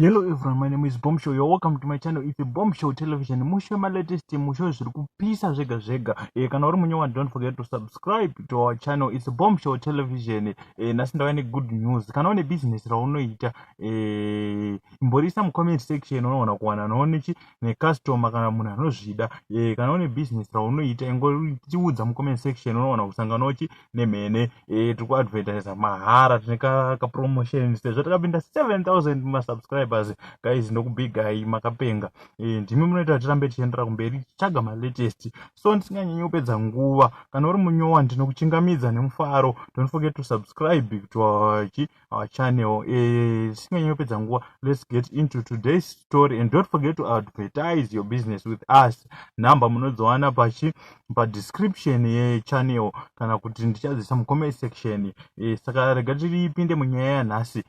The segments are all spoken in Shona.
Hello everyone, my name is Bombshell. You're welcome to my channel. It's Bombshell Television. Mushe ma latest mushe zviri kupisa zvega zvega. Eh kana uri munyewa don't forget to subscribe to our channel. It's Bombshell Television. Eh nasi ndauya ne good news. Kana une business raunoita eh imborisa mu comment section unoona kuwana noone chi ne customer kana munhu anozvida. Eh kana une business raunoita ingoriudza mu comment section unoona kusangana uchi nemhene eh, tiri kuadvertisa mahara tine kapromotion sezvo takapinda 7000 masubscribers guys ndokubigai makapenga eh, ndimi munoita kuti tirambe tichiendera kumberi tichitsvaga malatest so ndisinganyanyi kupedza nguva kana uri munyowa ndinokuchingamidza nemufaro don't forget to subscribe to our our channel eh, tisinganyi kupedza nguva let's get into today's story and don't forget to advertise your business with us number munodziwana pachi padescription yechannel kana kuti ndichadzisa mucomment section eh, saka rega tiripinde munyaya yanhasi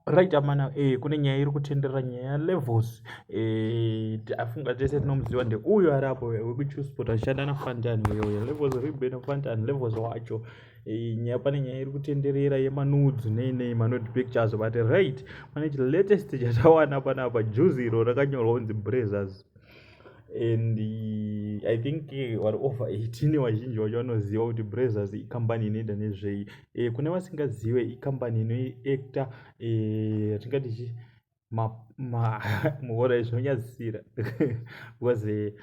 right amana eh, kune nyaya iri kutenderera nyaya levels eh, afunga tese tinomuziva ndeuyo ari apo wekuchusport achishanda nafantani uyo uyo levels ribenofantan levels wacho nyaya pane nyaya iri kutenderera yemanudes nei nei manude pictures but right pane chilatest chatawana panapa juzi iro rakanyorwa kunzi brazers and uh, i think eh, vari over 18 vazhinji vacho vanoziva kuti brazers ikambani inoita nezvei e, kune vasingazive ikambani inoiacta e, eh, tingati chii muhora izvi unonyadzisira because eh,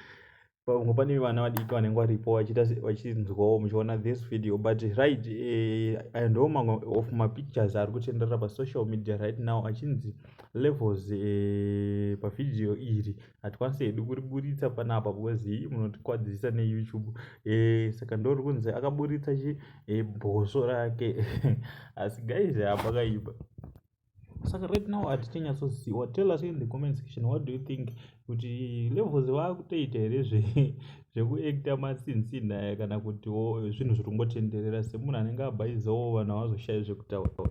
pamwe pane vana vadiki vanenge varipo vachinzwawo muchiona this video but right eh, and all mamwe of mapictures ari kutenderera pasocial media right now achinzi levels eh, pavhidhiyo iri hatikwanisi hedu kuriburitsa panapa because hii munotikwadzisa neyoutube eh, saka ndori kunzi akaburitsa chi eh, bhoso rake asi guys hapakaiba saka right now hatichanyatsoziwa tell us in the comment section what do you think kuti levels vakutoita here zvekuacta matsinsinaya kana kutiwo zvinhu zviri kungotenderera semunhu anenge abhaizawo vanhu havazoshayi zvekutaura